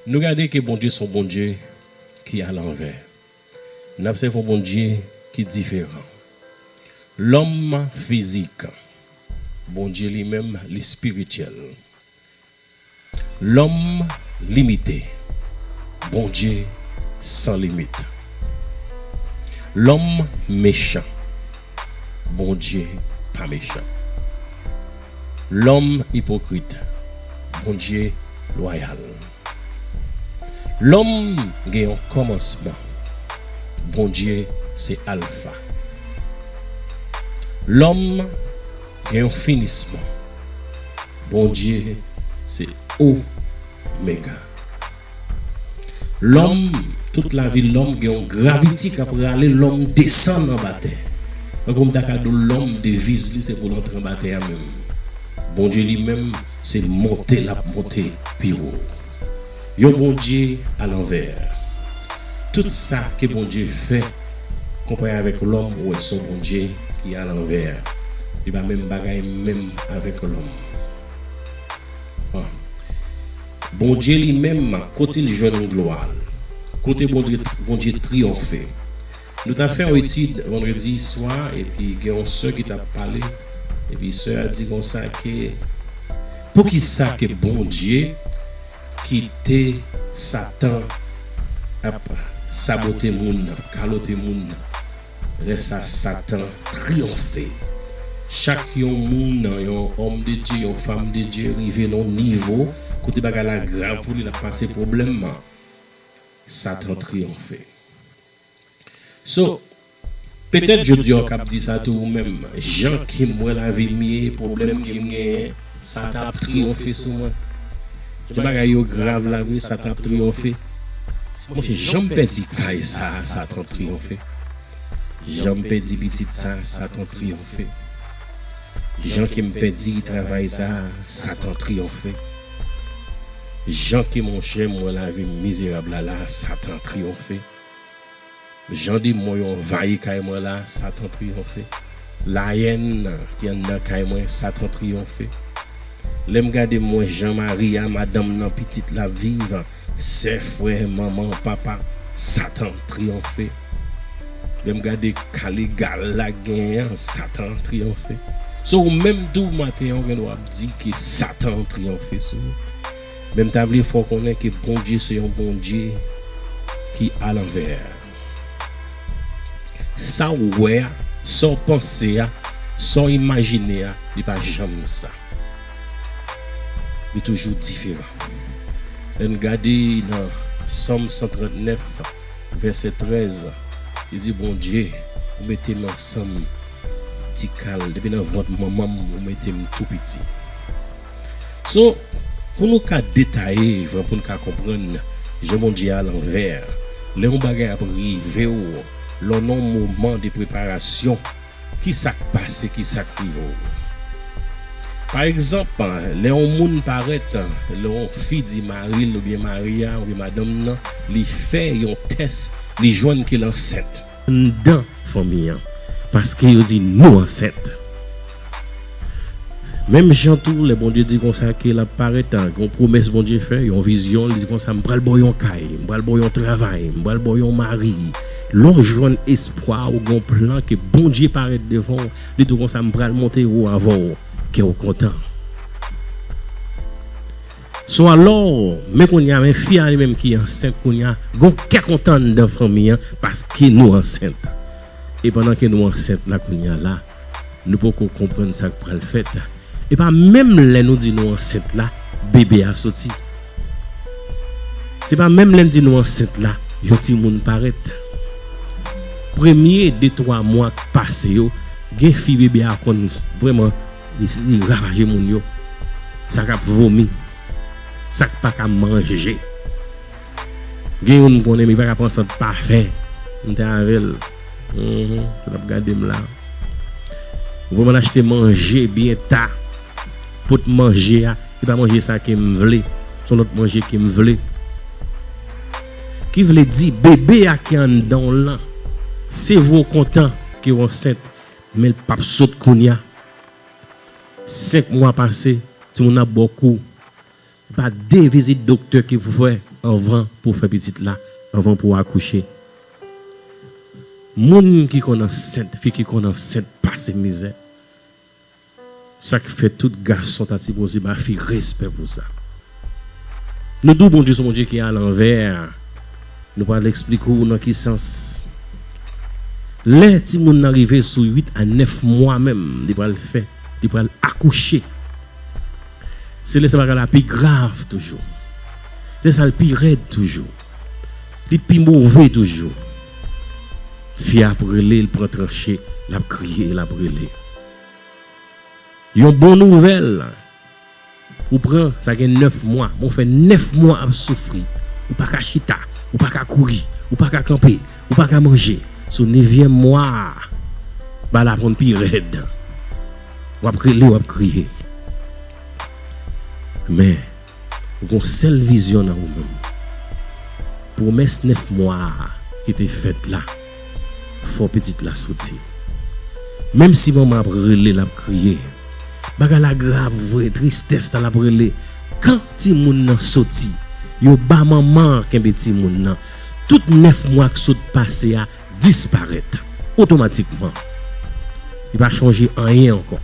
Nou gade ke Bondye son Bondye ki a lanvè. Nap sèvi yon Bondye ki diferan. Lòm fizik. Bondye li menm li spirityèl. Lòm limite. Bondye san limit. Lòm mechan. Bondye pa mechan. Lòm ipokrit, Bondye lwayal. Lòm gen yon kòmansman, Bondye se Alfa. Lòm gen yon finisman, Bondye se Omega. Lòm, tout lavi lòm gen yon graviti k ap rale lòm desann anba tè. Tankou m ta ka di w lòm deviz li se pou l antre anba tè a men Bondye li menm se monte l ap monte pi wo. Yon Bondye alanvè. Tout sa ke Bondye fè konpare avèk lòm ou wè s on Bondye ki alanvè. Li pa menm bagay menm avèk lòm. Bondye li menm kote l jwenn glwa l? Kote Bondye triyonfe? Nou ta fè yon etid vandredi swa epi gen yon sè ki tap pale epi sè a di konsa ke poukisa ke Bondye kite satan ap sabote moun nan, kalote moun nan? Lè sa Satan triyonfe. Chak yon moun nan yon òm de Dye, yon fam de Dye rive nan yon nivo kote bagay la grav pou li, l ap pase pwoblèm man, Satan triyonfe. So, petèt jodi a ou kab di sa tou ou menm, jan ke m wè lavi m ye, pwoblèm ke m genyen, Sa ta ap triyonfe sou mwen. Jan bagay yo grav la vre sa ta ap triyonfe. Monchè jan m pèdi kay sa a sa ta triyonfe. Jan m pèdi pitit sa a sa ta triyonfe. Jan ke m pèdi travay sa a sa ta triyonfe. Jan ke monchè m wè lavi m mizerab la la a sa ta triyonfe. Jan demon yo anvayi kay mwen la satan triyonfe Laèn nan ki anndan kay mwen satan triyonfe Lèm gade mwen jan mari a madanm nan pitit la ap viv sè frè manman papa satan triyonfe Lèm gade ka legal la genyen an satan triyonfe sou ou menm tou maten an ou gen dwa ap di ke satan triyonfe sou ou. Men m ta vle fè w konnen ke Bondye se yon Bondye ki alanvè. Sa w wè a, sa w panse a, sa w imajine a, li pa janm sa. Li toujou diferan. Lè n gade nan Sòm 139, vèsè 13, li di, Bondye, ou mete m ansanm ti kal, depi nan vant manman m ou mete m tou piti. So, pou nou ka detaye jan pou n ka konprann je Bondye a lanvè, lè yon bagay ap rive w, lè w nan yon moman de preparasyon, ki sa k pase, ki sa k rive w? Pa egzanp, lè yon moun parèt, lè yon fi di mari l oubyen mari a oubyen madanm nan li fè yon tès li jwenn ke l ansent. anndan fanmi an paske yo di nou ansent menm jan tou lè Bondye di konsa ke lap parèt gen yon pwomès Bondye fè yon vizyon li di konsa m pral baw yon kay m pral baw yon travay m pral baw yon mari lè w jwenn espwa ou gen yon plan ke Bondye parèt devan w li di w konsa m pral monte wo avèw kèw kontan. So alors men kounya men fi a li menm ki ansent kounya gon kè kontan anndan fanmi an paske nou ansent e pandan ke nou ansent la kounya la nou poko konprann sak pral fèt epa menm lè nou di nou ansent la bebe a soti se pa menm lè nou di nou ansent la yon timoun parèt premye de twa mwa k pase yo gen fi bebe a konn vrèman. Li ravaje moun yo, sa k ap vomi, sa k pa ka manje. Gen youn m konnen li pa ka pran sant pafen. M te avè l. L ap gade m la. Ou vle m al achte manje byen ta. Pot manje a, se pa manje sa ke m vle. Se yon lòt manje ke m vle. Ki vle di, bebe a ki anndan w lan, se vre ou kontan ke w ansent. Men l pap sot kounya. Senk mwa pase, timoun nan ap ba w kou. Gen pa de vizit doktè ke pou fè anvan pou w fè pitit la, anvan pou w akouche. Moun ki konn ansent, fi ki konn ansent pase mizè. Sak fè tout gason ta sipoze ba fi respè pou sa. Nou di w Bondye son Bondye ki a lanvè, nou pral eksplike w nan ki sans. Lè timoun nan rive sou 8 a 9 mwa menm li pral fè li pral akouche. Se lè sa bagay la pi grav toujou. Lè sa l pi rèd toujou. Li pi move toujou. Fi a ap rele l pran tranche, l ap kriye, l ap rele. Yon bon nouvèl ou pran sa gen 9 mwa men w fè 9 mwa ap soufri ou pa ka chita ou pa ka kouri ou pa ka kanpe ou pa ka manje sou nevyèm mwa a bal ap konn pi rèd wap rele wap kriye men Gon sèl vizyon nan ou menm. Pwomès 9 mwa a ki te fèt la, fò pitit la soti. Menm si manman ap rele lap kriye, bagay la grav vre tristès la lap rele kan timoun nan soti, yo ba manman an kenbe timoun nan, tout 9 mwa k sot pase a disparèt otomatikman. Li pa chonje anyen ankò.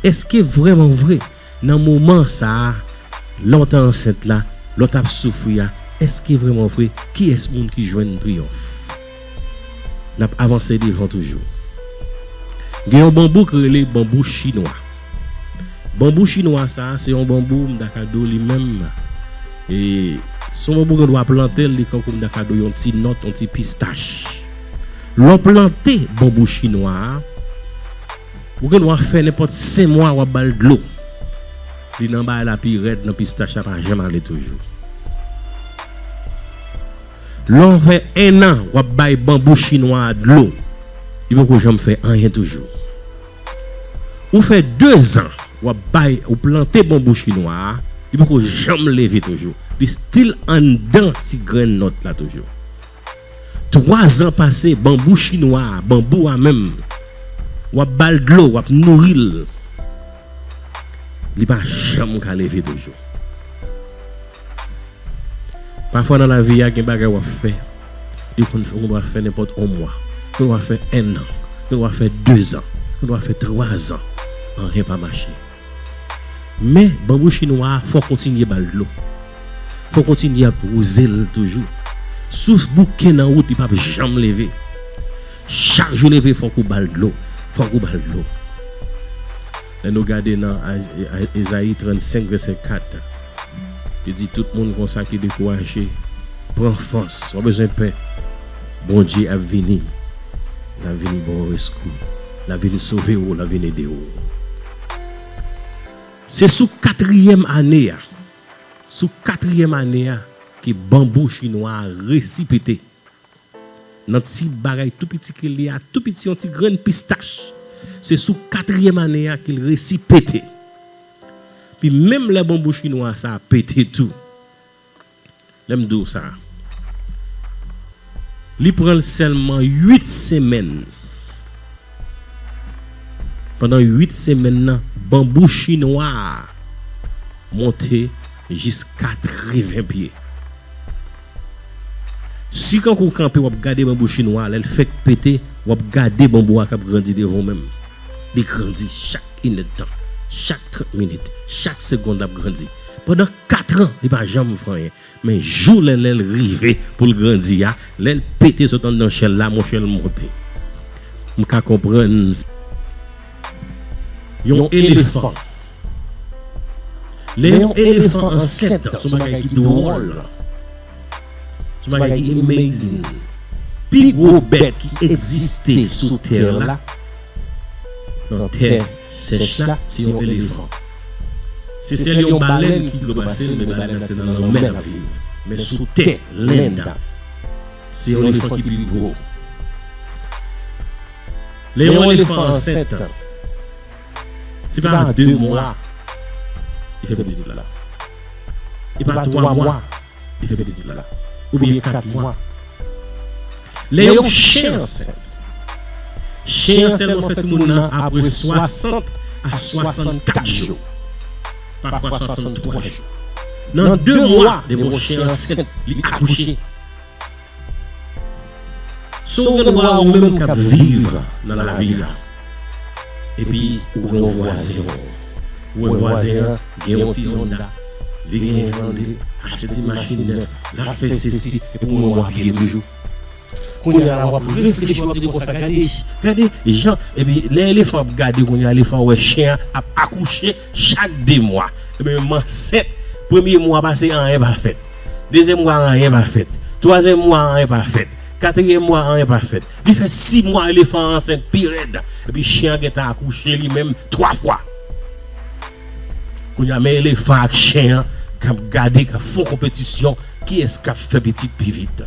Eske vrèman vre, nan moman sa a, lè w te ansent la, lè w t ap soufri a, eske vrèman vre, kiyès moun ki jwenn triyonf? N ap avanse devan toujou. Gen yon banbou ki rele banbou chinwa. Banbou chinwa sa a, se yon banbou m ta ka di w li menm, e se yon banbou ou gen dwa plante l, li tankou m ta ka di w yon ti nòt, yon ti pistach. Lè w plante banbou chinwa a. Ou gen dwa fè nenpòt 5 mwa wap bal dlo li nan bay la pi rèd nan pistach la pa janm ale toujou lè ou fè 1 an wap bay banbou chinwa a dlo li poko janm fè anyen toujou ou fè 2 zan wap bay ou plante banbou chinwa a li poko janm leve toujou li stil anndan ti grenn nòt la toujou. 3 zan pase banbou chinwa a banbou a menm wap bal dlo wap nouril li pa janm ka leve toujou pafwa nan lavi a gen bagay wap fè li konn fè ou gendwa fè nenpòt 1 mwa ou gendwa fè 1 an ou gendwa fè 2 zan ou gendwa fè 3 zan anyen pa mache. Men, banbou chinwa a fò kontinye ba l dlo. Fò kontinye ap wouze l toujou. Sous bouke nan wout li pap janm leve. Chak jou leve fòk ou ba l dlo, fòk ou ba l dlo. Lè nou gade nan Ezayi 35 vèsè 4, li di tout moun konsa ki dekouraje, pran fòs, pa bezwen pè. Bondye ap vini, l ap vini ba w reskou. Nan vin sove ou, nan vin ede ou. Se sou katriyèm ane a, sou katriyèm ane a ke banbou chinwa a resi pete. Nan ti bagay tou piti ke l ye a, tou piti yon ti grenn pistach, se sou katriyèm ane a ke l resi pete. Pi menm lè banbou chinwa sa a pete tou. Lè m di w sa, li pran l sèlman 8 semèn. Pandan 8 semèn nan, banbou chinwa a monte jis 80 pye. Si kankou w kanpe w ap gade banbou chinwa a, lè l fèk pete, w ap gade banbou a k ap grandi devan w menm. Li grandi chak inèdtan, chak 30 minit, chak segond l ap grandi. Pandan Katran li pa janm fè anyen men jou Lèlèl rive poul grandi a lèl pete sot anndan chèl la monchè l monte m ka konprann yon elefan lè yon elefan ansent son bagay ki dwòl son bagay ki amazing pi gwo bèt ki egziste sou tè la nan tè Sèch la se yon elefan. Se sèl yon balèn ki dlo pase l men balèn nan se nan lanmè l ap viv. Men sou tè, len da. Se yon elefan ki pi gwo. Lè yon elefan ansent, se pa a 2 mwa li fè pitit la. E pa 3 mwa. li fè pitit la oubyen 4 mwa lè yon chen ansent chen an sèlman fè timoun nan apre 60 a 64 jou pafwa 63 jou nan 2 mwa depi yon chen ansent li akouche. Si w gen dwa ou menm k ap viv nan lavi a epi ou gen yon vwazen w wè vwazen an gen yon ti Honda li genyen l ande achte ti machin nèf l ap fè sesi epi w menm w ap ye toujou kounye a la w ap reflechi w ap di konsa gade gade jan epi lè elefan ap gade kounye a elefan wè chen an ap akouche Chak 2 mwa m ansent premye mwa pase anyen pa fèt dezyèm mwa anyen pa fèt twazyèm mwa anyen pa fèt katriyèm mwa anyen pa fèt li fè 6 mwa elefan an ansent pi rèd epi chen an gentan akouche li menm 3 fwa kounye a men elefan ak chen an kap gade kap fon konpetisyon kiyès kap fè pitit pi vit.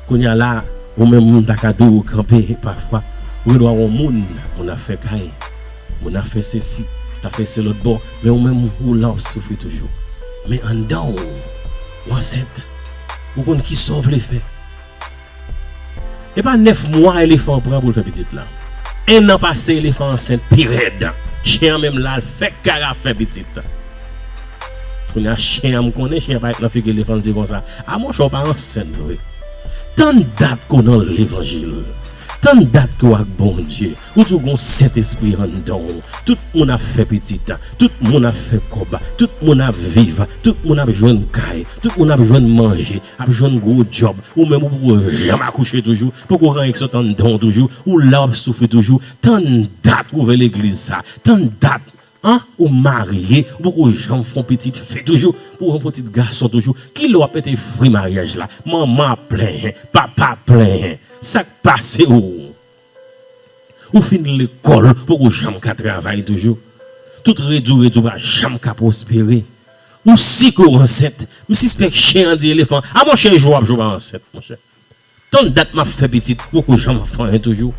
Kounya la ou menm moun ta ka diw ou kanpe pafwa ou gen dwa wè yon moun moun ap fè kay moun ap fè sesi ta fè se lòt bò men ou menm ou la wap soufri toujou men anndanw ou ansent ou konn kisaw vle fè epa 9 mwa elefan pran poul fè pitit la 1 an pase elefan ansent pirèd chen an menm la fèk kara fè pitit. Kounya chyen an m konnen chyen an pa ret nan figi li fon di konsa a monchè ou pa ansent vre tann dat ke w nan levanjil tann dat ke w ak Bondye ou di w gon sentespri anndan w tout moun ap fè pitit tout moun ap fè kòb tout moun ap viv tout moun ap jwenn kay tout moun ap jwenn manje ap jwenn gwo djòb ou menm ou poko janm akouche toujou poko gen anyen ki sot anndan w toujou ou la w ap soufri toujou tann dat ou ouvè legliz sa tann dat Anh ou marye ou poko janm fon pitit fi toujou pou fon pitit gason toujou kilè wap mete fri maryaj la manman ap plenyen papa ap plenyen sak pase ou ou fin lekòl ou poko janm ka travay toujou tout redi ou redi ou pa janm ka pwospere ou si ke ou ansent msispèk chen an di elefan a monchè jwe wap jwe ou pa ansent monchè. Tann dat map fè pitit poko janm fanyen toujou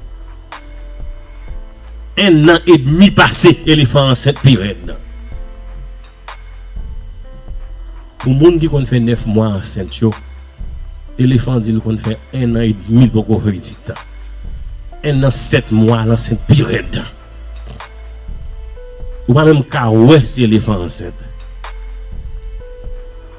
1 nan edmi pase elefan ansent pi rèd nan Pou moun ki konn fè 9 mwa ansent yo elefan di l konn fè 1 nan edmi l poko fè pitit nan 1 nan 7 mwa l ansent pi rèd nan Ou pa menm ka wè si elefan ansent.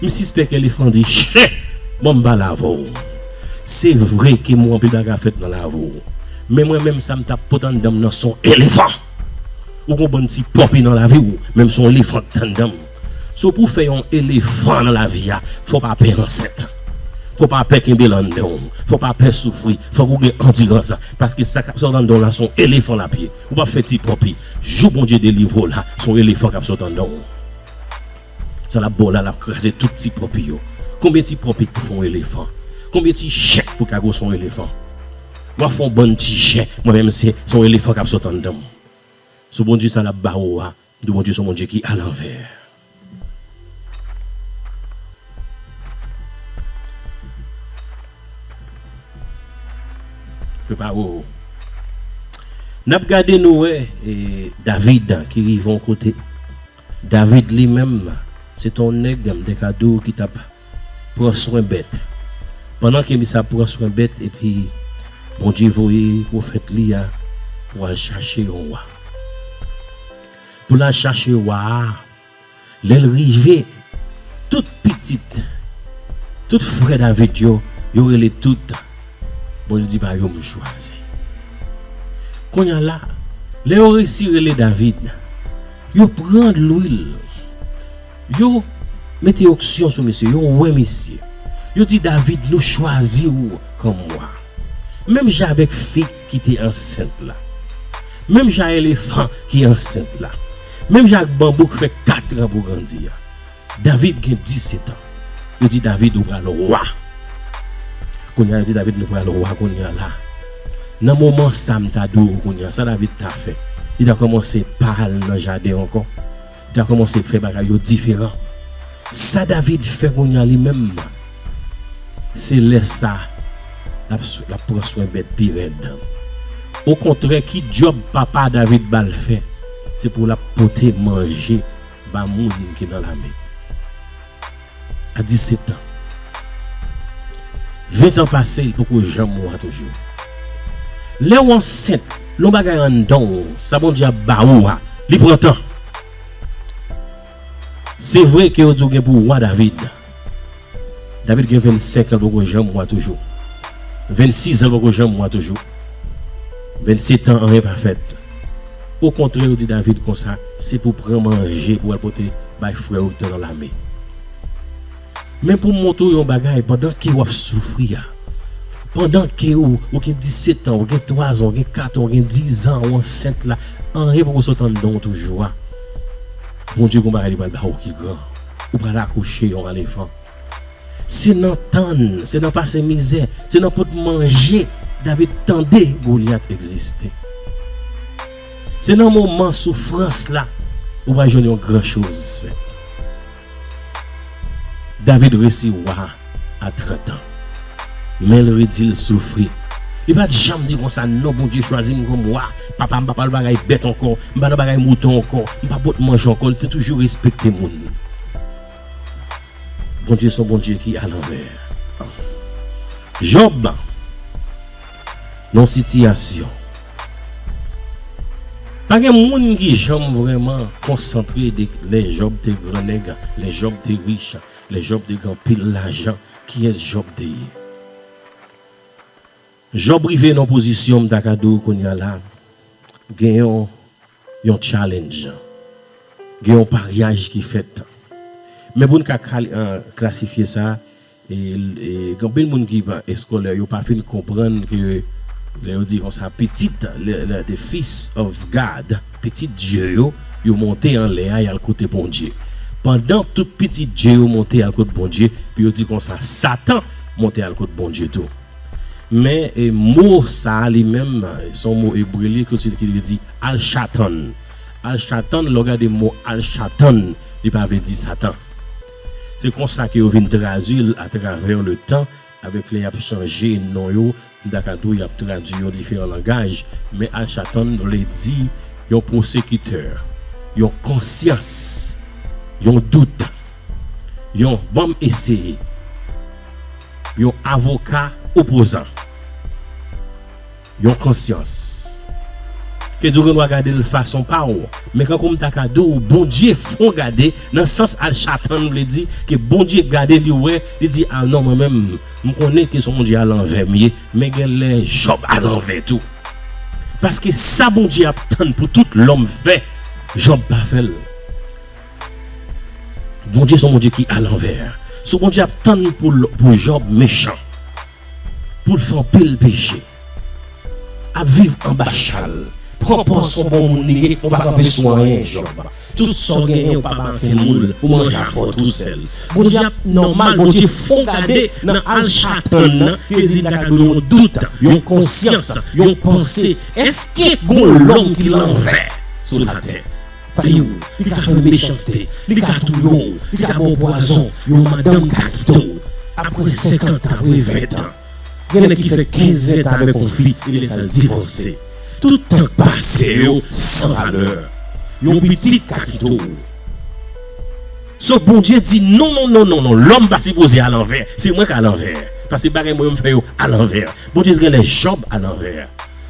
M sispèk elefan di chè mwen m pa lave w Se vre ke mwen anpil bagay ap fèt nan lave w Men mwen menm sa m ta pot anndan m nan s on elefan Ou gen w bann ti pope nan lavi w menm s on elefan k t anndan m So pou w fè yon elefan nan lavi a fò w pa pè ansent Fò w pa pè kenbe l anndan w Fò w pa pè soufri Fòk ou gen andirans Paske sa k ap sot anndan w la s on elefan l ap ye Ou p ap fè ti pope Jou Bondye delivre w la s on elefan k ap sot anndan w. Sa lap baw la lap kraze tout ti pòpi yo konbyen ti pòpit pou fon elefan konbyen ti jè pou ka gwos on elefan wap fon bann ti jè mwen menm se son elefan kap sot anndanm sou Bondye sa lap ba ou a mdi Bondye son Bondye ki alanvè. Prepare ou nap gade nou wè David ki rive on kote. David li menm, se te yon nèg, m te ka di w, ki t ap pran swen bèt. Pandan ke misye ap pran swen bèt, epi Bondye voye pwofèt Li a pou al chache yon wa. Pou l al chache wa a, lè l rive, tout pitit, tout frè David yo, yo rele tout bon, li di pa yo m chwazi. Kounye a la, lè yo resi rele David. Yo pran lwil. Yo Mete oksyon sou misye. Yo wen misye. Yo di David nou chwazi ou kòm wa. Menm jan avèk fig ki te ansent la. Menm jan elefan ki ansent la. Menm jan ak banbou k fè katran pou grandi a. David gen disetan. Yo di David, Ou pral wa. Kounye a, yo di David, Nou pral wa kounye a la. Nan moman sa, m ta di w kounye a, sa David ta fè? Li ta kòmanse pa al nan jaden ankò. Li ta kòmanse fè bagay yo diferan. Sa David fè kounye a li menm, se lè sa a l ap pran swen bèt pi rèd. Okontrè, ki djòb papa David ba l fè? Se pou l ap pote manje Ba moun ki nan lame a 17 tan. Ven tan pase li poko janm wa toujou. Lèw ansent lon bagay anndanw sa Bondye ap ba ou a li pran tan. Se vre ke yo di ou gen pou wa David. David gen 25 lan poko janm wa toujou 26 zan poko janm wa toujou 27 an anyen pa fèt okontrè yo di David konsa se pou pran manje pou al pote bay frè ou ki te nan lame men pou montre w yon bagay pandan ke wap soufri a pandan ke ou gen 17 an ou gen 3 zan ou gen 4 an ou gen 10 zan ou ansent la anyen poko sot andan w toujou a Bondye gon bagay li pral ba ou ki gran. Ou pral akouche yon alefan. Se nan tann, se nan pase mizè, se nan pot manje David tande Goliath egziste. Se nan moman soufrans la ou pral jwenn yon gran choz fèt. David resi wa. a 30 ans menl redil soufri li pat janm di konsa non Bondye chwazim kòm wa papam pa pral bagay bèt ankò m pa nan bagay mouton ankò m pa pot manje ankò li te toujou respekte moun Bondye son Bondye ki a lanvè Job nan yon sitiyasyon pa gen moun ki janm vrèman konsantre de lè Job te gran nèg lè Job te rich. Lè Jòb te gen anpil lajan, kiyès Jòb te ye? Jòb rive nan yon pozisyon m ta ka di w kounye a la, gen yon tchalennj, gen yon paryaj ki fèt. Men pou n ka klasifye sa, gen anpil moun ki pa eskolè, yo pa fin konprann ke lè yo di konsa, pitit, the fils of God. Pitit dye yo, yo monte anlè a, y al kote Bondye. Pandan tout pitit dye yo monte al kot Bondye, epi yo di konsa, Satan monte al kot Bondye tou. Men, mo sa a li menm, se yon mo ebre li, ki vle di al chatan. Al chatan, lè w gade mo al chatan, li pa vle di Satan. Se konsa ke yo vin tradui l atravè letan, avèk lè y ap chanje non yo. Dakadou y ap tradui yon diferan langaj, men alchatàn vle di yon pwosekitè, yon konsyans, yon dout, yon ban m eseye, yon avoka opozan, yon konsyans. Kedou gen dwa gade l fason pa w, men kankou m ta ka di w Bondye fè w gade nan sans alchatàn vle di ke Bondye gade li wè, li di a non mwen menm M konnen ke son Bondye a lanvè m ye, men gen lè Jòb a lanvè tou. Paske sa Bondye ap tann pou tout lòm fè, Jòb pa fè l. Bondye son Bondye ki alanvè. So Bondye ap tann pou Jòb mechan, pou l fè anpil peche. Ap viv anba chal. Pran pòz son bon moun li ye, ou pa kanpe sou anyen Jòb. Tout sa w genyen ou pa make moul, ou manje afè w tou sèl. Bondye ap nòmal Bondye fon gade nan al chatan nan kredi li ta ka dwe yon dout, yon konsyans, yon panse èske gon lòm ki lanvè sou latè? Paye w, li ka fè mechanste, li ka touye w, li ka ba w pwazon, yon madanm ka kite w apre senkantan, apre ventan. Gen nèg ki fè 15 20 tan avèk yon fi epi lè sa l divòse. Tout tan k pase yo san valè. Yon pitit ka kite w. So Bondye di non non non non non lòm pa sipoze alanvè. Se mwen k alanvè. Pase bagay mwen yo m fè yo alanvè. Bondye gen lè Jòb alanvè.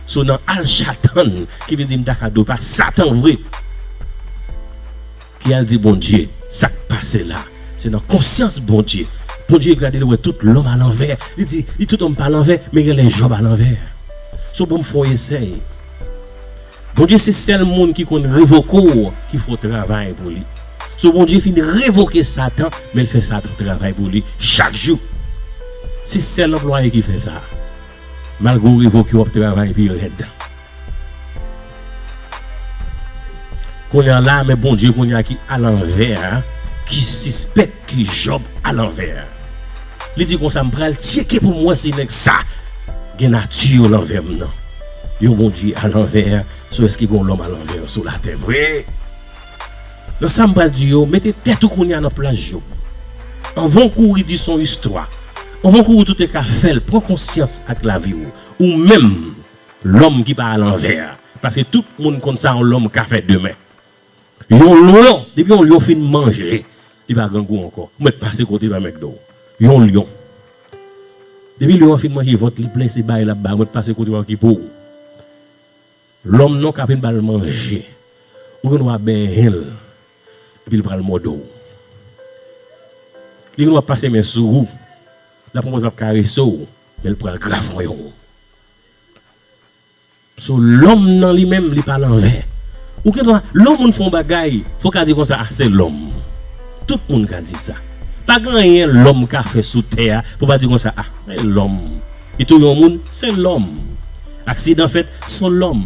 So nan al chatan ki vin di m ta ka do pa satan vre. Ki al di Bondye sak pase la se nan konsyans Bondye Bondye gadel wè tout lòm a lanvè li di li tout lòm pa lanvè men genlè Job a lanvè so banm fon esèy Bondye se sèl moun ki konn revoke w ki fè w travay pou li so Bondye fin revoke satan menl fè satan travay pou li chak jou se sèl anplwaye ki fè sa malgre w revoke wap travay pi rèd. Kounye a lame Bondye kounye a ki alanvè a ki sispèk ke Jòb alanvè. Li di konsa, M pral tcheke pou m wè si nèg sa gen nati yo lanvè m nan. Yon Bondye alanvè sou èske gen yon lòm alanvè sou latè vre? Nan sa m pral di yo, mete tèt ou kounye a nan plas Jòb. Anvan w kouri di s on istwa, anvan w kouri tout e ka fè l, pran konsyans ak lavi w. Ou menm, Lòm ki pa alanvè a. Paske tout moun konn sa yon lòm ka fè demen. Yon lyon, depi yon lyon fin manje, li pa grangou ankò. Ou mèt pase kote pa mègde w. Yon lyon. Depi lyon an fin manje vant li plen se bay l ap bay ou mèt pase kote pa okipe w. Lòm non ka fin ba l manje, ou gen dwa benyen l epi l pral mòde w. Li gen dwa pase men sou ou, l ap konpoze l ap karese w men l pral grafonyen w. So lòm nan li menm li pa lanvè. Ou gen dwa, lè yon moun fè yon bagay, fò w ka di konsa, ah se lòm. Tout moun ka di sa. Pa gen anyen lòm ka fè sou tè a pou w pa di konsa, ah se lòm. Li touye yon moun, se lòm. Aksidan fèt, so lòm.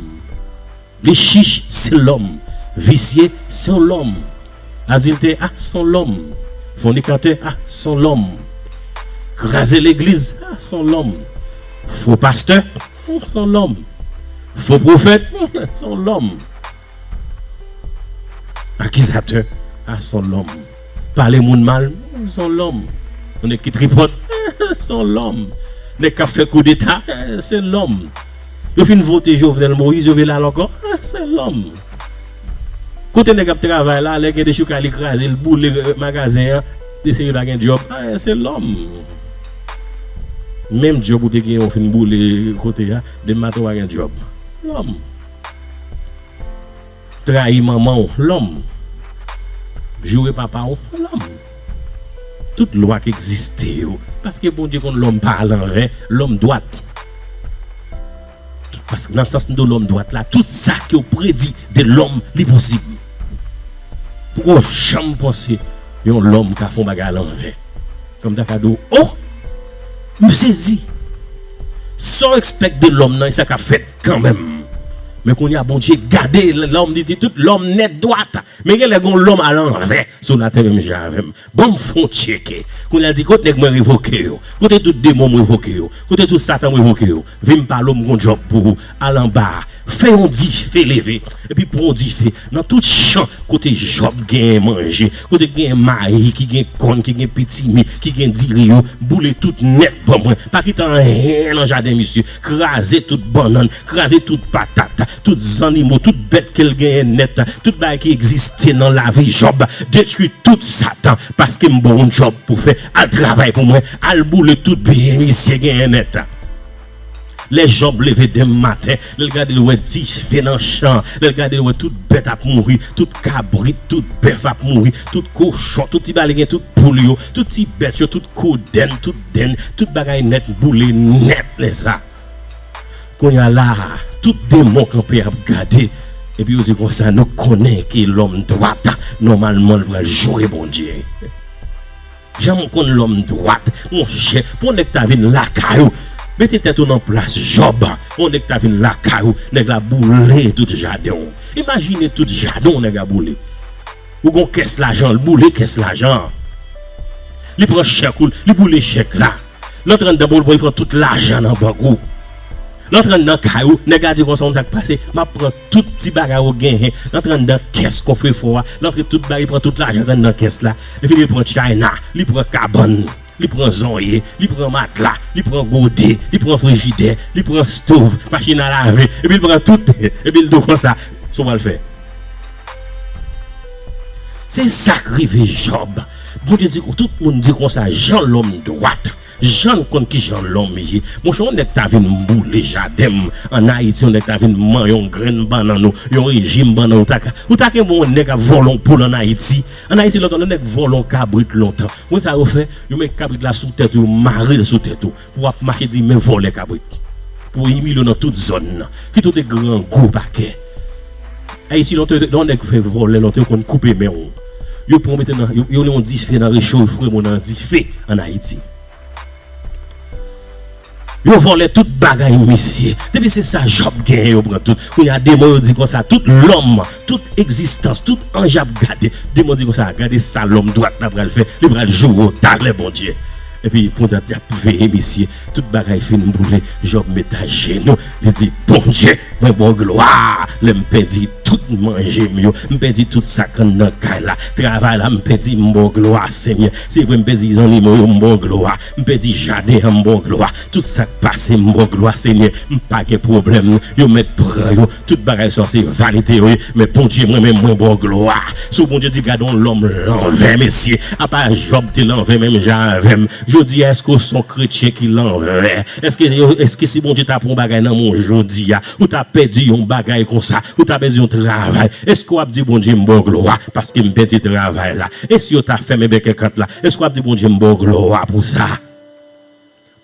Li chich se lòm, visye se yon lòm, adiltè a se yon lòm, fònikatè a se yon lòm, kraze legliz a se yon lòm, fo pastè a se yon lòm, fo pwofèt a se yon lòm, akizatè a se yon lòm. Pale moun mal eh son lòm yon nèg ki tripòt eh son lòm nèg kap fè koudeta eh se lòm yo fin vote Jovenel Moïse yo vle al ankò eh se lòm kote nèg ap travay la lè gen dechoukay li krazel boule magazen an deske li pa gen djòb eh se lòm menm djòb ou te gen ou fin boule kote a depi maten ou pa gen djòb lòm. Trayi manman w, lòm. Joure papa w, lòm. Tout lwa k egziste yo, paske Bondye konn lòm pa alanvè, lòm dwat. Tout pask nan sans do lòm dwat la, tout sa ke w predi de lòm, li posib. Poko janm panse yon lòm ka fè yon bagay alanvè. Kòm ta ka di w, O! M sezi! Sa w ekspèk de lòm nan e sa k ap fèt. Kanmenm. Men kounye a Bondye gade lòm li di tout lòm nèt dwat. Men genlè gon lòm alanvè sou latè menm jan avèm. Banm fon tyeke. Kounye a l di kot nèg mwen revoke yo? Kote tout demon m revoke yo? Kote tout satan m revoke yo? Vim pale w m gon djòb pou ou. Al anba a. Fè yon dife leve. Epi pran yon dife. Nan tout chan kote Jòb genyen manje. Kote ki genyen mayi, ki genyen kòn, ki genyen pitimi, ki genyen diri yo. Boule tout nèt ban mwen. Pa kite anyen nan jaden misye. kraze tout bannann, kraze tout patat, tout zannimo, tout bèt ke l genyen nèt, tout bagay ki egziste nan lavi Jòb, detwi tout Satan, paske m ba w yon djòb pou w fè, al travay pou mwen, al boule tout byen misye genyen nèt. Lè Jòb leve denm maten, lè l gade l wè dife nan chan, lè l gade l wè tout bèt ap mouri, tout kabrit, tout bèf ap mouri, tout kochon, tout ti bagay li genyen, tout poul yo, tout ti bèt yo, tout kodenn, tout. Then tout bagay nèt boule nèt lè sa. Kounya la a tout demon kanpe ap gade epi yo di konsa nou konnen ke lòm dwat nòmalman l pral joure Bondye. Jan m konn lòm dwat monchè pou yon nèg ta vin lakay ou mete tèt ou nan plas Jòb pou yon nèg ta vin lakay ou nèg la boule tout jaden w. Imajine tout jaden w nèg la boule. Ou gon kès lajan l boule kès lajan an li pran chèk ou li boule chèk la l antre anndan bon li pran tout lajan nan bank ou l antre anndan kay ou nèg la di konsa ou konn sa k pase m ap pran tout ti bagay ou genyen l antre anndan kès kofrefò a l antre tout bagay li pran tout lajan k anndan kès la li vin li pran tchayna li pran kabann. Li pran zonye, li pran matla, li pran gode, li pran frijidè, li pran stov, machin a lave, epi l pran tout, epi l di w konsa, sa w pral fè? Se sa k rive Jòb. Bondye di, tout moun di konsa, jan lòm dwat, jan l konn ki jan lòm ye. Monchè, yon nèg ta vin boule jaden m ann Ayiti, yon nèg ta vin manyen yon grenn bannann ou yon rejim bannann, ou ta gen pou w wè yon nèg ap vòlè yon poul ann Ayiti? An Ayiti lontan, lè yon nèg vòlò yon kabrit lontan, konbyen sa yo fè? Yo met kabrit la sou tèt ou, yo mare l sou tèt ou pou ap make di men vòlè kabrit. Pou yo imilye w nan tout zòn nan. Kit ou te grangou pakè. Ayiti lontan, lè yon nèg fè vòlè lontan, yo konn koupe men w. Yo pran w mete nan, yo gen yon dife nan recho, yo foure moun nan dife an Ayiti. Yo vòlè tout bagay ou mesye. Depi se sa Job genyen yo pran tout. Kounye a demon yo di konsa tout lòm, tout egzistans, tout anj ap gade. Demon di konsa gade sa lòm dwat la pral fè, li pral joure w talè Bondye. Epi kontant y ap veye mesye. Tout bagay fin boule, Job met ajenou. Li di, Bondye, mwen ba w glwa lè m pèdi tout manje m yo, m pèdi tout sa k anndan kay la. Travay la m pèdi, m ba w glwa, Senyè. Se vre m pèdi zannimo yo, m ba w glwa. M pèdi jaden an, m ba w glwa. Tout sa k pase, m ba w glwa, Senyè. M pa gen pwoblèm. Yo mèt pran yo. Tout bagay sa yo se vanite yo ye. Men Bondye, mwen menm, mwen ba w glwa. So Bondye di, Gade yon lòm lanvè, mesye. Apa Jòb te lanvè menm jan avè m? Jodi a, èske w se yon kretyen ki lanvè? Eske si Bondye ta pran yon bagay nan men w jodi a, ou ta pèdi yon bagay konsa, ou ta pèdi yon travay, eske w ap di Bondye m ba w glwa paske m pèdi travay la? E si yo ta fèmen bèk èkant la, eske w ap di Bondye m ba w glwa pou sa?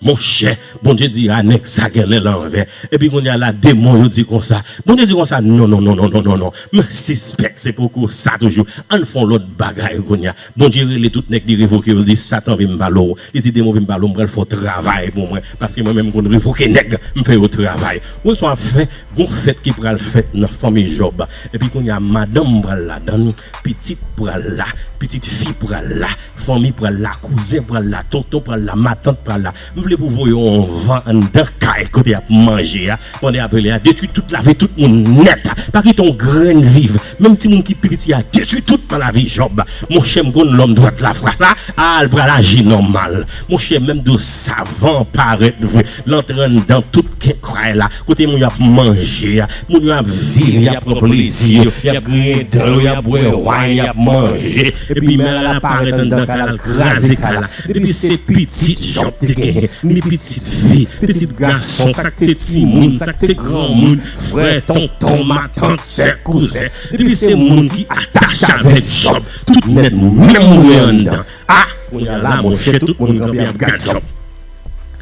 Monchè, Bondye di a nèg sa gen lè l anvè. Epi kounye a la demon yo di konsa. Bondye di konsa, Nonnonnonnonnonnon, m sispèk se poko sa toujou. Ann fè yon lòt bagay kounye a. Bondye rele tout nèg li revoke yo li di satan vim balo w li di demon vim balo w m pral fè w travay pou mwen paske mwen menm m konn revoke nèg m fè yo travay ou swa fè gon fèt ki pral fèt nan fanmi Jòb epi kounya madanm pral ladann pitit pral la pitit fi pral la fanmi pral la kouzen pral la tonton pral la matant pral la. M vle pou voye yon van anndan kay kote yap manje a pandan yap rele a detwi tout lavi tout moun nèt pa kite yon grenn viv menm timoun ki pi piti a detwi tout nan lavi Jòb monchè m konn lòm dwat la fwa sa a l pral aji nòmal monchè menm dlo savan parèt vre lan tran anndan tout kay la kote moun yo ap manje a moun yo ap viv yap pran plezi yo yap griyen dan yo yap bwè wine yap manje epi mère la parèt anndan kay la l kraze kay la. Depi se pitit Jòb te genyen, ni pitit fi, pitit gason, sa k te timoun, sa k te granmoun, frè, tonton, matant, sè, kouzen, depi se moun ki atache avèk Jòb, tout nèt menm mouri anndan. A! Kounye a la, monchè, tout moun kanpe ap gad Jòb.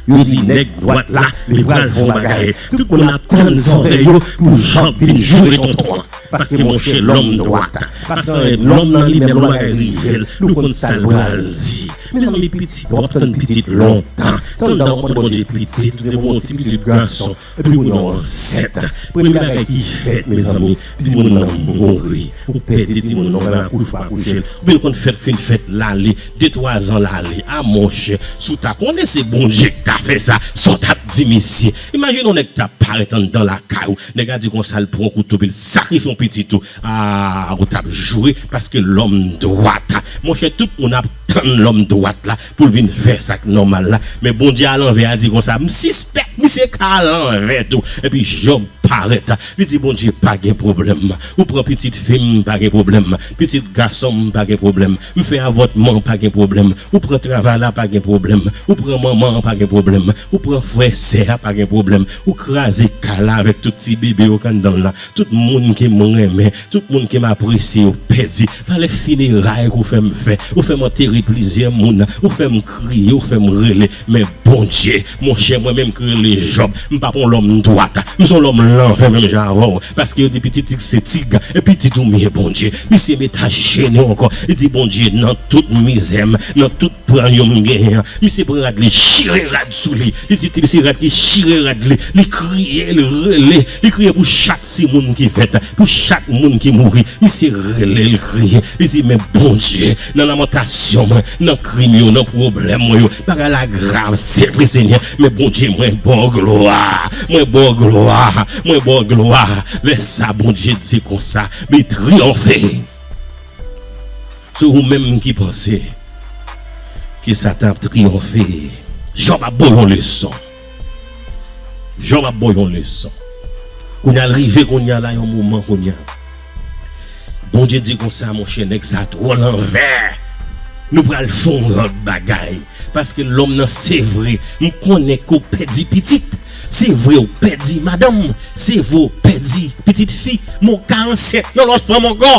Yo di, Nèg dwat la, li pral fè yon bagay. Tout moun ap tann zòrèy yo pou Jòb vin joure tonton an. Paske monchè lòm dwat, paske anyen lòm nan li menm lò bagay rive l, li konn sa l pral di. Mezanmi pitit, wap tann pitit lontan, tann dan wap mande Bondye pitit, ou te gen yon ti pitit gason, epi kounya w ansent. Premye bagay ki fèt mezanmi, timoun nan mouri. Ou pèdi timoun nan, ou pral akouche ou pa kouche l, oubyen l konn fèt k fin fèt l ale, de twa zan l ale. A monchè, si w ta konnen se Bondye k ta fè sa, sa w tap di misye? Imajine yon nèg ta parèt anndan lakay ou, Nèg la di konsa l pran kouto epi l sakrifye yon pitit ou aah ou tap joure paske lòm dwat monchè tout moun ap tann lòm dwat la pou l vin fè sak nòmal la men Bondye alanvè a di konsa m sispèk misye ka alanvè tou epi Jòb parèt li di Bondye pa gen pwoblèm ou pran pitit fi m pa gen pwoblèm pitit gason m pa gen pwoblèm M fè avòtman pa gen pwoblèm ou pran travay la pa gen pwoblèm ou pran manman an pa gen pwoblèm ou pran frè sè a pa gen pwoblèm ou kraze kay la avèk tout ti bebe yo k anndan l la tout moun ke m renmen tout moun ke m apresye yo pèdi valè fineray ke w fè m fè ou fè m antere plizyè moun ou fè m kriye ou fè m rele Men Bondye, monchè mwen menm k rele Jòb, m pa p on lòm dwat, m s on lòm lanvè menm jan avè w, paske yo di piti tig se tig, e piti tou mye Bondye. Misye met ajenou ankò, li di Bondye, nan tout mizè m, nan tout pran yo m genyen an, misye pran rad li chire rad sou li, li di ti se rad ki chire rad li, li kriye, li rele, li kriye pou chak ti moun ki fèt, pou chak moun ki mouri, misye rele, li kriye, li di men Bondye, Nan lamantasyon mwen, nan krim yo, nan pwoblèm mwen yo, bagay la grav, se vre Senyè, men Bondye mwen ba w glwa, mwen ba w glwa, mwen ba w glwa. Lè sa a Bondye di konsa, Li triyonfe sou ou menm ki panse ke Satan ap triyonfe. Jòb ap ba w yon leson. Jò map baw yon leson kounya l rive kounya la yon moman kounya Bondye di konsa monchè nèg sa twò lanvè nou pral fè yon lòt bagay paske lòm nan sevre m konnen ke w pèdi pitit sevre w pèdi madanm sevre w pèdi pitit fi men w ka ansent yon lòt fanm ankò.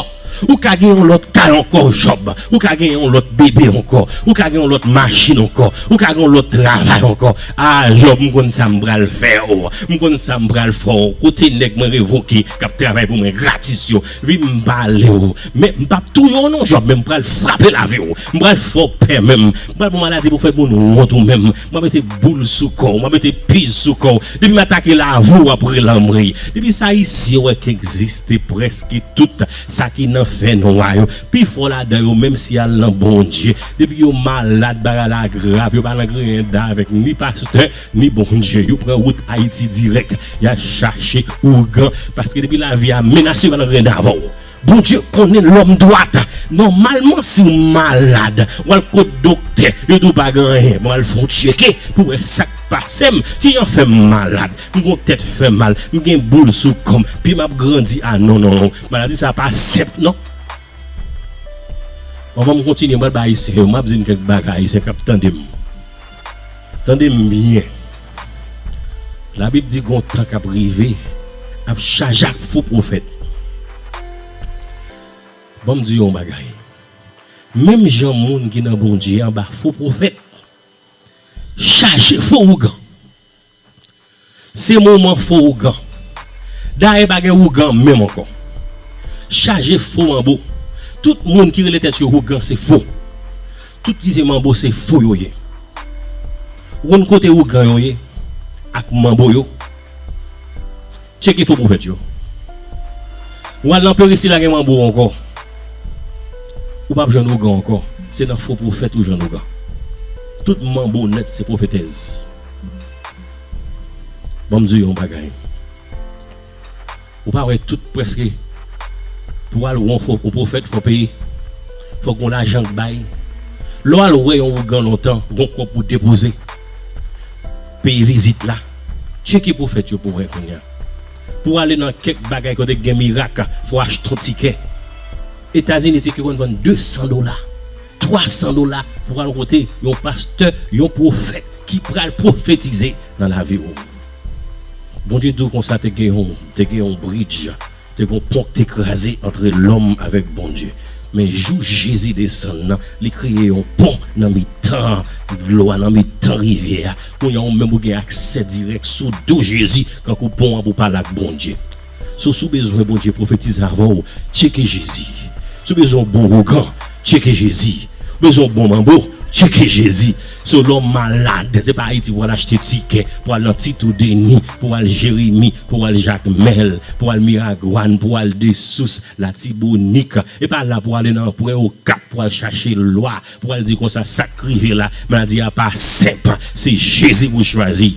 Ou ka gen yon lòt kay ankò Jòb, ou ka gen yon lòt bebe ankò, ou ka gen yon lòt machin ankò, ou ka gen yon lòt travay ankò A Jòb m konn sa m pral fè w M konn sa m pral fè w Kote nèg mwen revoke k ap travay pou mwen gratis yo Vin m pale w Men m p ap touye w non Jòb men m pral frape lavi w M pral fè w pè men m pral pran maladi pou fè moun wont ou menm Mwen mete boul sou kòw mwen mete piz sou kòw depi m atake lave w wap rele anmwey depi sa ayisyen wè k egziste prèske tout sa ki nan fè nwa yo pifò ladan yo menm si al nan bondye depi yo malad bagay la grav yo pa nan griyen davèk ni pastè ni bondye yo pran wout ayiti dirèk ya chache ougan paske depi lavi a menase yo pa nan griyen davè w. Bondye konnen lòm dwat. Nòmalman si w malad w al kot doktè yo di w pa gen anyen bon al fè yon tcheke pou wè sa k pase m ki jan fè m malad m gon tèt fè mal m gen boul sou kò m pye m ap grandi a non non non maladi sa pa senp non. Anvan m kontinye m pral bay ayisyen yo m ap di n kèk bagay ayisyen k ap tande m. Tande m byen. Labib di gon tan kap rive ap chaje ak fo pwofèt. Ban m di w yon bagay. Menm jan moun ki nan Bondye anba fo pwofèt chaje fo ougan. Se moman fo ougan. Dayè pa gen ougan menm ankò. Chaje fo manbo. Tout moun ki rele tèt yo ougan se fo. Tout ki se manbo se fo yo ye. Ou konn kote ougan yo ye ak manbo yo? Tcheke fo pwofèt yo. Ou al nan peristil la gen manbo ankò. Ou pap jwenn ougan ankò. Se nan fo pwofèt ou jwenn ougan. Tout manbo nèt se pwofetèz. Bon m di w yon bagay ou pa wè tout prèske pou w al wè yon pwofèt fò w peye fòk gon lajan k bay lè w al wè yon ougan lontan gon kòb pou w depoze peye vizit la tcheke pwofèt yo pou w wè kounya pou w ale nan kèk bagay kote k gen mirak fò w achte yon tikè etazini tikè konn vann 200 dola. 300 dola pou al kote yon pastè yon pwofèt ki pral pwofetize nan lavi w. Bondye di w konsa te gen yon te gen yon bridj te gen yon pon ki te kraze antre lòm avèk Bondye men jou Jezi desann nan li kreye yon pon nan mitan dlo a nan mitan rivyè a kounye a ou menm ou gen aksè dirèk sou do Jezi kankou pon an pou pale ak Bondye. So si w bezwen Bondye pwofetize avè w, tcheke Jezi. Si w bezwen yon bon ougan, tcheke Jezi. Ou bezwen yon bon manbo, tcheke Jezi. Si w lòm malad, se pa Ayiti pou w al achte tikè, pou w al nan Titoo Denis, pou w al Jeremi, pou w al Jakmèl, pou w al Miragwàn, pou w al Desous, Latibonik. E pa la pou w ale nan Pwen Okap pou w al chache lwa, pou w al di konsa sa k rive la, maladi a pa senp. Se Jezi pou w chwazi.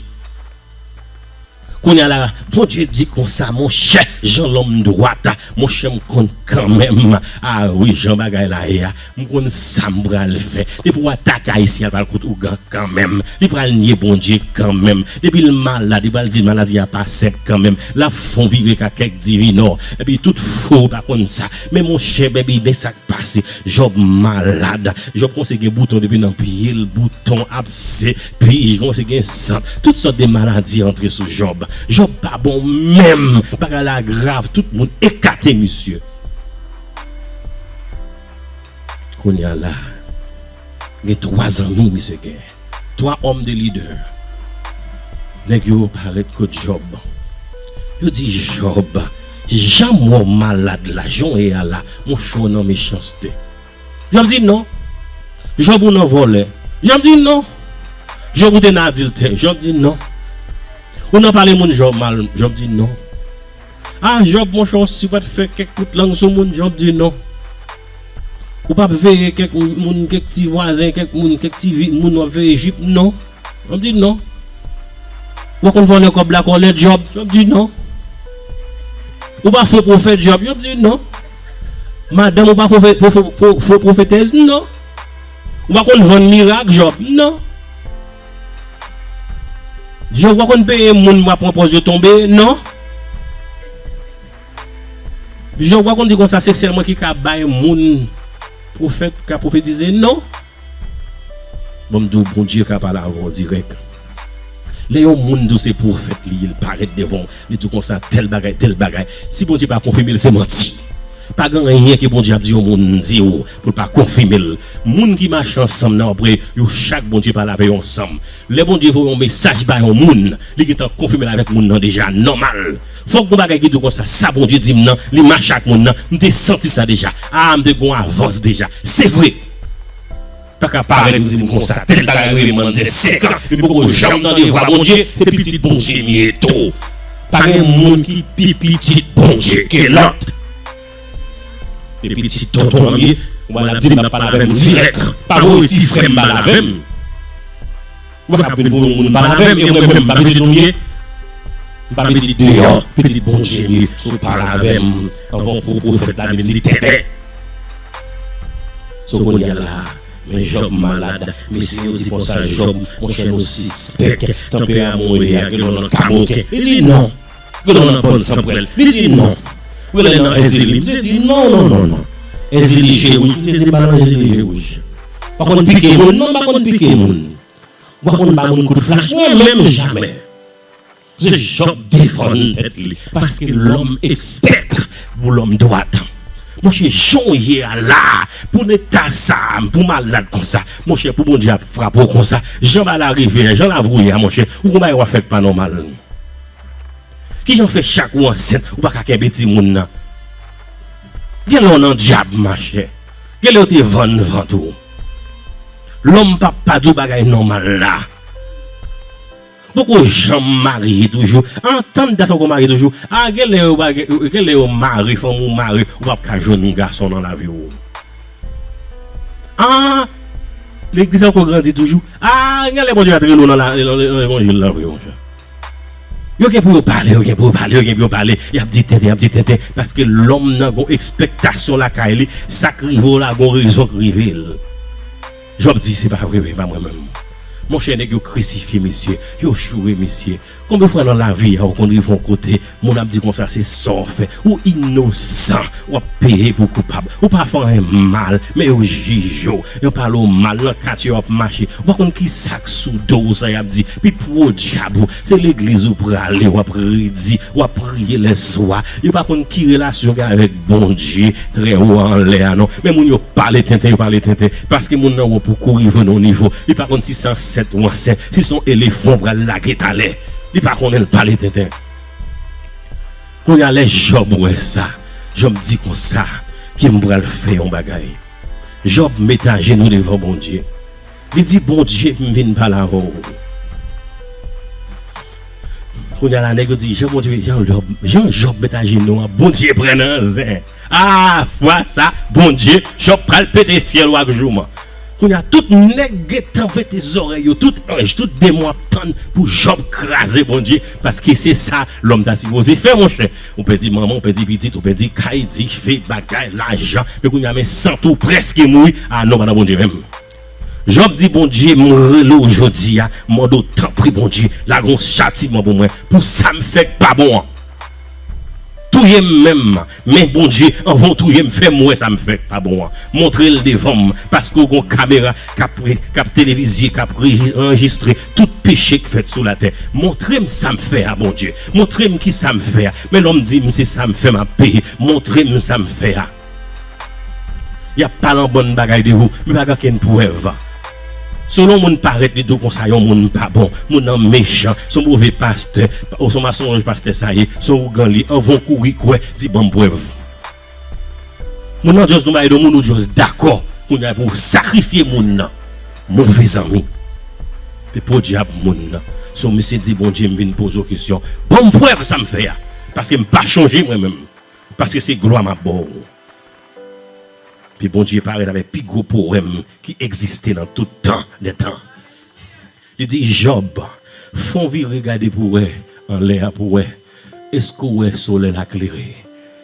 Kounya la Bondye di konsa monchè jan lòm dwat monchè m konn kanmenm a wi jan bagay la ye a m konn sa m pral fè depi w atake ayisyen al pral kot ougan kanmenm li pral nye Bondye kanmenm depi l malad li pral di maladi a pa senp kanmenm lap fon vire ka kèk divinò epi tout fou ou pa konn sa men monchè bby men sa k pase Jòb malad Jòb kòmanse gen bouton depi nan pye l bouton ap se. Pii kòmanse gen san. Tout sòt de maladi antre sou Job. Job pa bon menm. Bagay la grav tout moun ekate misye. Kounya la gen 3 zanmi misye gen. 3 homme de leader. Nèg yo pa ret kot Job. Yo di Job, janm wè w malad la, jan w ye a la, monchè w nan mechanste. Job di non. Job ou nan vòlè. Job di non. Job ou te nan adiltè. Job di non. Ou nan pale moun Job mal. Job di non. A Job monchè ou si pat fè kèk kout lang sou moun. Job di non. Ou pap veye kèk moun kèk ti vwazen kèk moun kèk ti vi moun wap veye jip non. Job di non. Ou konn vòlè kòb la kòlè Job. Job di non. Ou pa fo pwofèt Job. Job di non. Madanm ou pa fo pwofetèz non. Ou pa konn vann mirak Jòb non. Jòb ou pa konn peye moun ou pa pran pòz yo tonbe non. Jòb ou pa konn di konsa se sèl mwen ki ka bay moun pwofèt ka pwofetize non. Banm diw Bondye ka pale avèw dirèk lè yon moun diw se pwofèt li ye li parèt devanw li diw konsa tèl bagay tèl bagay si Bondye pa konfimel se manti pagen anyen ke Bondye ap di yon moun diw poul pa konfimel moun ki mache ansanm nan wap wè yo chak Bondye pale avè yo ansanm lè Bondye voye yon mesaj ba yon moun li gentan konfimel avèk moun nan deja nòmal fòk gon bagay ki diw konsa sa Bondye dim nan li mache ak moun nan mte santi sa deja aa mte gon avans deja se vre. Paka parèt ou dim konsa tèl bagay rele mann fè 5 ans li poko janm tande vwa Bondye se pitit Bondye m ye tou pa gen moun ki pi pitit Bondye ke lòt se pitit tonton an m ye ou wè lap dim lap pale avèm dirèk pa voye ti frèm pale avèm. Ou pa ka ap vin pou yon moun pa lave m e mwen menm m pa pitit ou m ye? M pa pitit deyò, pitit Bondye m ye si w pa lave m anvan fo pwofèt la vin di tètè. So kounye a la a men Jòb malad, mesye yo di konsa Jòb, monchè nou sispèk tanperaman w ye a gen lòt nan kamoken. Li di non! Prelan nan bann san prèl li di non prelan nan èzili misye di non non non non èzili je wouj misye di pa nan èzili je wouj pa konn pike moun non pa konn pike moun ou pa konn ba moun kout flach mwen menm jamè se jòb defann tèt li paske lòm espèk pou lòm dwat monchè jan w ye a la pou n eta sa pou malad konsa monchè pou bondye ap frape w konsa jan bagay la rive a jan la vouye a monchè ou gon bagay wap fè k pa nòmal. Kijan w fè chak ou ansent ou pa ka kenbe timoun nan? Gen lè w nan dyab machè. Gen lè yo te vann vant ou. Lòm pa pa di w bagay nòmal la. Ou poko janm marye toujou. Antann dat ou poko marye toujou. A gen lè yo pa gen, gen lè yo mare fanmi w mare ou pa p ka jwenn gason nan lavi w. A legliz la poko grandi toujou. A gen lè Bondye va te rele w nan levanjil la vre monchè. Yo gen pou yo pale, yo gen pou yo pale, yo gen pou yo pale, y ap di tenten, y ap di tenten, paske lòm nan gen yon ekspektasyon lakay li, sa k rive w la gen yon rezon k rive l. Jòb di, Se pa vre, se pa mwen menm. Monchè, nèg yo krisifye misye, yo joure misye. Konbyen fwa nan lavi a ou konn rive yon kote Moun ap di konsa se saw fè. Ou inosan wap peye pou koupab. Ou pa fè anyen mal men yo jije w. Yo pale w mal nan katye wap mache. Ou pa konn kisak sou do w sa yap di. Pi pwodyab ou. Se legliz ou prale wap redi. Wap priye lè swa. Yo pa konn ki relasyon ou gen avèk Bondye trè wo a anlè a non. Men moun yo pale tenten yo pale tenten. Paske moun nan wo pou kou rive nan yon nivo. Li pa konn si se ansent ou ansent. Si son elefan ou pral lage talè. Li pa konnen l pale tenten. Kounya lè Jòb wè sa, Jòb di konsa, Ki m pral fè yon bagay. Jòb mete ajenou devan Bondye, li di, Bondye, m vin pale avè w. Kounya la nèg yo di, Jan Bondye, jan Jòb mete ajenou a, Bondye pran nan zen. Ahh fwa sa Bondye Trump pral pete fyèl ou ak jouman. Kounya tout nèg gentan prete zòrèy yo tout anj tout demon ap tann pou Job kraze Bondye paske se sa lòm ta sipoze fè monchè ou pèdi manman ou pèdi pitit ou pèdi kay dife bagay lajan men kounya men sante ou prèske mouri ah non pa nan Bondye menm. Job di Bondye m rele w jodi a mande w tanpri Bondye lage yon chatiman pou mwen pou sa m fè k pa bon an touye m menm men Bondye anvan w touye m fè m wè sa m fè k pa bon an montre l devan m paske w gon kamera k ap televizye k ap anrejistre tout peche k fèt sou latè montre m sa m fè a Bondye montre m kisa m fè a men lòm di m se sa m fè m ap peye montre m sa m fè a. Y ap pale anbann bagay de ou, men pa gen okenn prèv. Selon moun parèt li di w konsa yon moun pa bon, moun nan mechan, s on move pastè, o s on masonronj pastè sa ye, s on ougan li, anvan w kouri kwè, di ban m prèv. Moun nan just nou bay do moun ou just dakò, kounye a pou w sakrifye moun nan. Move zanmi. Pe podyab moun nan. S on misye di Bondye m vin poze w kesyon, ban m prèv sa m fè a, paske m pa chonje mwen menm. Paske se glwa map baw. Ke Bondye parèt avèk pi gwo powèm ki egziste nan tout tan dè tan. Li di Jòb, fon vire gade pou wè anlè a pou wè èske ou wè solèy la klere?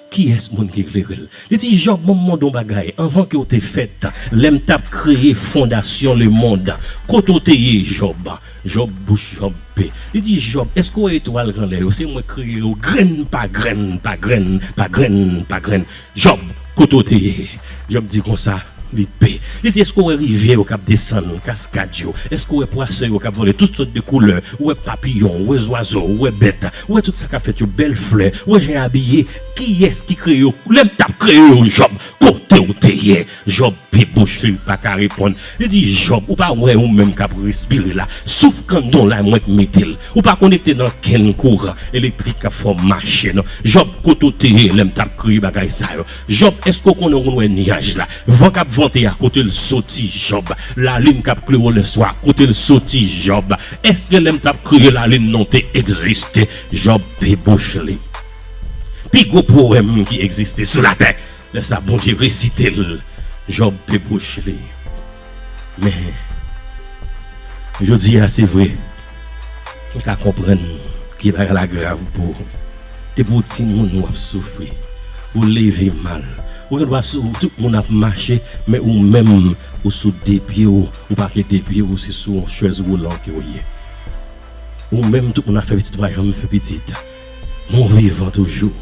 Kiyès moun ki klere l? Li di Jòb mwen mande yon bagay anvan ke ou te fèt, lèm tap kreye fondasyon lemond, kote ou te ye Jòb? Jòb bouch Jòb pe. Li di Jòb, èske w wè etwal k anlè yo? Se mwen k kreye yo grenn pa grenn, pa grenn, pa grenn, pa grenn. Jòb, kote w te ye? Jòb di konsa, li pe. Li di, èske w wè rivyè yo k ap desann, kaskad yo? Èske w wè pwason yo k ap vole, tout sòt de koulè? Ou wè papiyon, ou wè zwazo, ou wè bèt, ou wè tout sa k ap fèt yo, bèl flè, ou wè jan y abiye? Kiyès ki kreye yo? Lè m t ap kreye yo, Jòb, kote w te ye? Jòb pe bouche li paka reponn li di Jòb ou pa wè ou menm kap respire la souf kandon la mwen k mete l ou pa konekte nan kenn kouran elektrik kap fè w mache non Jòb kote w te ye lèm tap kreye bagay sa yo Jòb èske w konnen ou konn wè nyaj la van kap vante a kote l soti Jòb lalin kap klere w lèswa kote l soti Jòb èske lèm tap kreye lalin nan w te egziste Jòb pe bouche li pi gwo powèm ki egziste sou latè. Lè sa Bondye resite l, Jòb pe bouch li. Men, jodi a, se vre, m ka konprann ke bagay la grav pou ou. Depi w timoun w ap soufri, ou leve mal, ou gen dwa sou ou, tout moun ap mache, men ou menm, ou sou de pye w, ou pa gen de pye, ou se sou yon chèz woulan ke w ye. Ou menm, tout moun ap fè pitit, ou pa janm fè pitit. Mwen vivan toujou.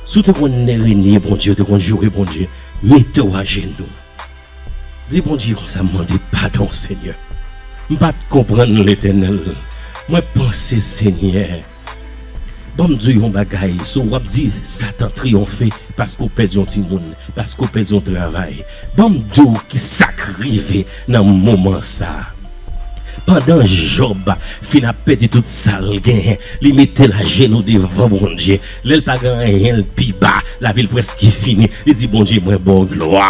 Si w te konn lè Renie Bondye ou te konn joure Bondye mete w ajenou di Bondye konsa m mande padon Senyè m pa t konprann Letènèl mwen panse Senyè ban m di w yon bagay si w ap di satan triyonfe paske w pèdi yon timoun paske w pèdi yon travay ban m di w kisa k rive Nan moman sa a, pandan Jòb fin ap pèdi tout sa l genyen, li mete l ajenou devan Bondye. Lè l pa gen anyen, l pi ba, lavi l prèske fini, li di, Bondye, mwen ba w glwa.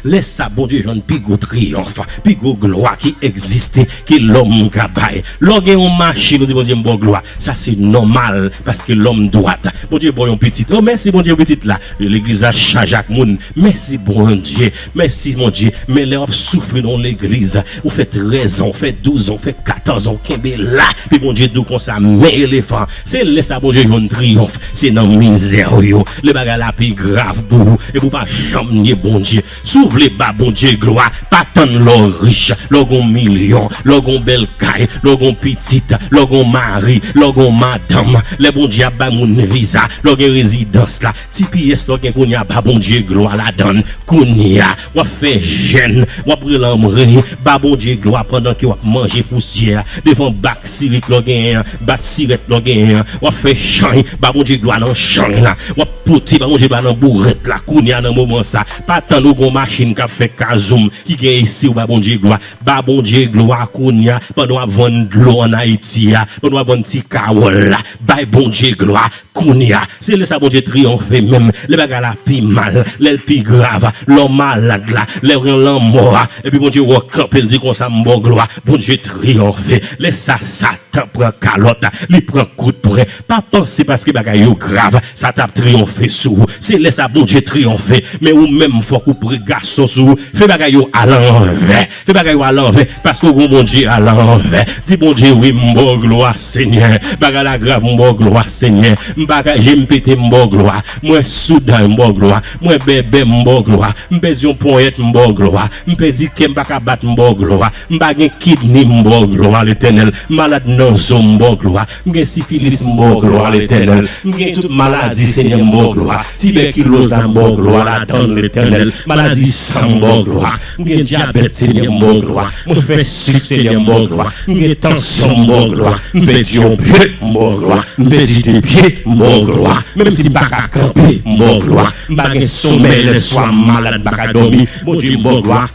Lè sa a, Bondye jwenn pi gwo triyonf, pi gwo glwa ki egziste, ke lòm ka bay. Lè w gen yon machin, ou di, Bondye, m ba w glwa. Sa se nòmal, paske lòm dwat. Bondye ba w yon pitit. O, mèsi, Bondye, pou pitit la! Legliz la chaje ak moun. Mèsi, Bondye, Mèsi Bondye men lè wap soufri nan yon legliz ou fè 13 ans ou fè 12 ans ou fè 14 ans kenbe la pi Bondye diw konsa men elefan se lè sa Bondye jwenn triyonf se nan mizè ou yo lè bagay la pi grav pou ou epi ou pa janm nye Bondye si w vle ba Bondye glwa pa tann lè w rich lè w gen yon milyon lè w gen yon bèl kay lè w gen yon pitit lè w gen yon mari lè w gen yon madanm lè Bondye ap bay moun viza lè w gen rezidans la Tps lòt gen kounya ba Bondye glwa ladann kounya wap fè jèn wap rele anmwree ba Bondye glwa pandan ke wap manje pousyè devan bak sirik lò genyen an bat sirèt lò genyen an wap fè chany ba Bondye glwa nan chany la wap pote ba Bondye glwa nan bourèt la kounya nan moman sa pa tann ou gon machin kap fè kazoum ki gen esiw ba Bondye glwa ba Bondye glwa kounya pandan wap vann dlo an Ayiti a pandan wap vann ti kawòl la bay Bondye glwa Kounye a, se lè sa Bondye triyonfe menm, lè bagay la pi mal, lè l pi grav, lè w malad la, lè w gen lanmò a, epi Bondye wè w kanpe, l di, Konsa m ba w glwa, Bondye triyonfe. Lè sa a, Satan pran kalòt, li pran kout pwen. Pa panse paske bagay yo grav, sa t ap triyonfe sou ou. Se lè sa a Bondye triyonfe. Men ou menm, fòk ou pre gason sou ou, fè bagay yo alanvè. Fè bagay yo a lanvè paske ou gen yon Bondye a lanvè di Bondye wi m ba w glwa senyè bagay la grav m ba w glwa senyè m pa ka je m pete m ba w glwa mwen sou day m ba w glwa mwen bèbè m ba w glwa m pèdi yon ponyèt m ba w glwa m pèdi kè m pa ka bat m ba w glwa m pa gen kidni m ba w glwa letènèl malad nan zo m ba w glwa M gen sifilis m ba w glwa Letènèl M gen tout maladi Senyè m ba w glwa Tibèkiloz la m ba w glwa ladanl Letènèl Maladi san m ba w glwa M gen dyabèt Senyè m ba w glwa Mwen fè sik Senyè m ba w glwa M gen tansyon m ba w glwa M pèdi yon pye m ba w glwa M pèdi de pye m ba w glwa Menm si m pa ka kanpe m ba w glwa M pa gen somèy lèswa m malad m pa ka dòmi Bondye m ba w glwa.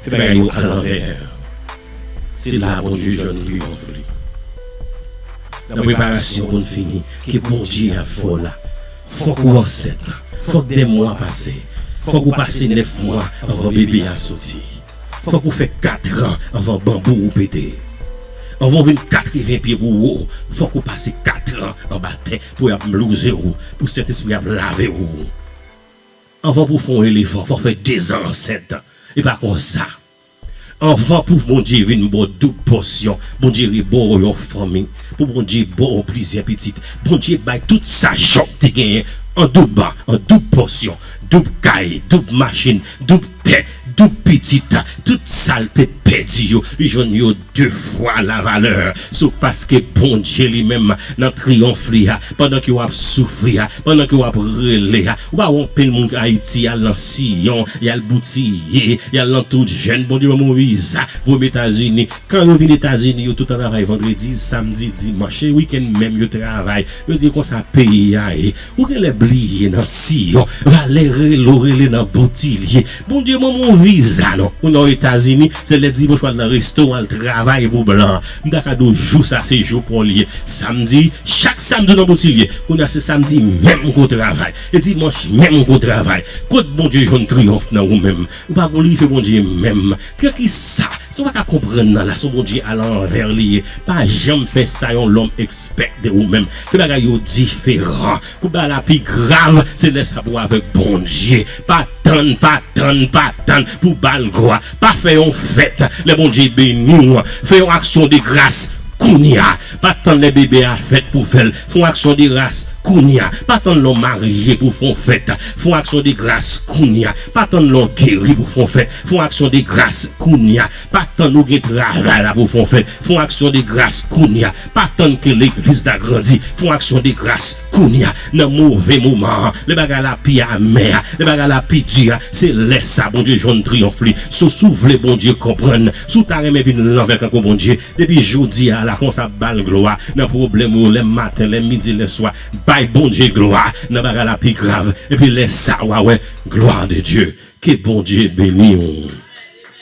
Fè bagay yo a lanvè. Se la Bondye jwenn triyonf li. Nan preparasyon pou n fini, ke Bondye ap fè w la, fòk ou ansent, fòk de mwa pase, fòk ou pase nèf mwa anvan bebe a soti, fòk ou fè katran anvan banbou ou pete. Anvan ou vin katreven pye pou wo, fòk ou pase katran anba tè pou y ap mlouze w, pou Sentespri ap lave w. Anvan pou w fè yon elefan fò w fè dezan ansent e pa konsa anvan pou Bondye vin ba w doub pòsyon Bondye re ba w yon fanmi pou Bondye ba w plizyè pitit Bondye bay tout sa Jòb te genyen an doub an doub pòsyon doub kay doub machin doub tè doub pitit tout sa l te pèdi yo li jwenn yo 2 fwa la valè sou paske Bondye li menm nan triyonf li a pandan ke w ap soufri a pandan ke w ap rele a ou pa wè anpil moun k ayiti y al nan siyon y al boutiye y al nan tout jèn Bondye ban m yon viza pou m etazini kan yo vin etazini yo tout an travay vandredi samdi dimanch se wikenn menm yo travay yo di konsa peyi a ye ou genlè bliye nan siyon valè rele w rele nan boutilye. Bondye banm yon viza non ou nan etazini se lè dimanch wal nan resto wal travay pou blan m ta ka diw jou sa se jou paw li ye samdi chak samdi ou nan botilye kounya se samdi menm ke w travay e dimanch menm ke w travay kot bondye jwenn triyonf nan ou menm ou pa glorife bondye menm ke kisa sa w pa ka konprann nan la son bondye a lanvè li ye pa janm fè sa yon lòm expect de ou menm ke bagay yo diferan Kou bagay la pi grav se lè sa pou avèk Bondye. Pa tann, pa tann, pa tann pou ba l glwa. Pa fè yon fèt lè Bondye beni w. Fè yon aksyon de gras kounye a. Pa tann lè bebe a fèt pou w fè l. Fè yon aksyon de gras kounye a. Pa tann lè w marye pou w fè yon fèt. Fè yon aksyon de gras kounye a. Pa tann lè w geri pou w fè yon fèt. Fè yon aksyon de gras kounye a. Pa tann ou gen travay la pou fè w fè, fè yon aksyon de gras kounye a. Pa tann ke legliz la grandi, fè yon aksyon de gras kounye a. Nan move moman an, lè bagay la pi amè a, lè bagay la pi di a, se lè sa Bondye jwenn triyonf li sou. Si w vle Bondye konprann, si w ta renmen vin lanvè tankou Bondye, depi jodi a la konsa ba l glwa nan pwoblèm ou yo lè maten, lè midi, lè swa. Bay Bondye glwa nan bagay la pi grav, epi lè sa wa wè glwa de Dye. Ke Bondye beni w.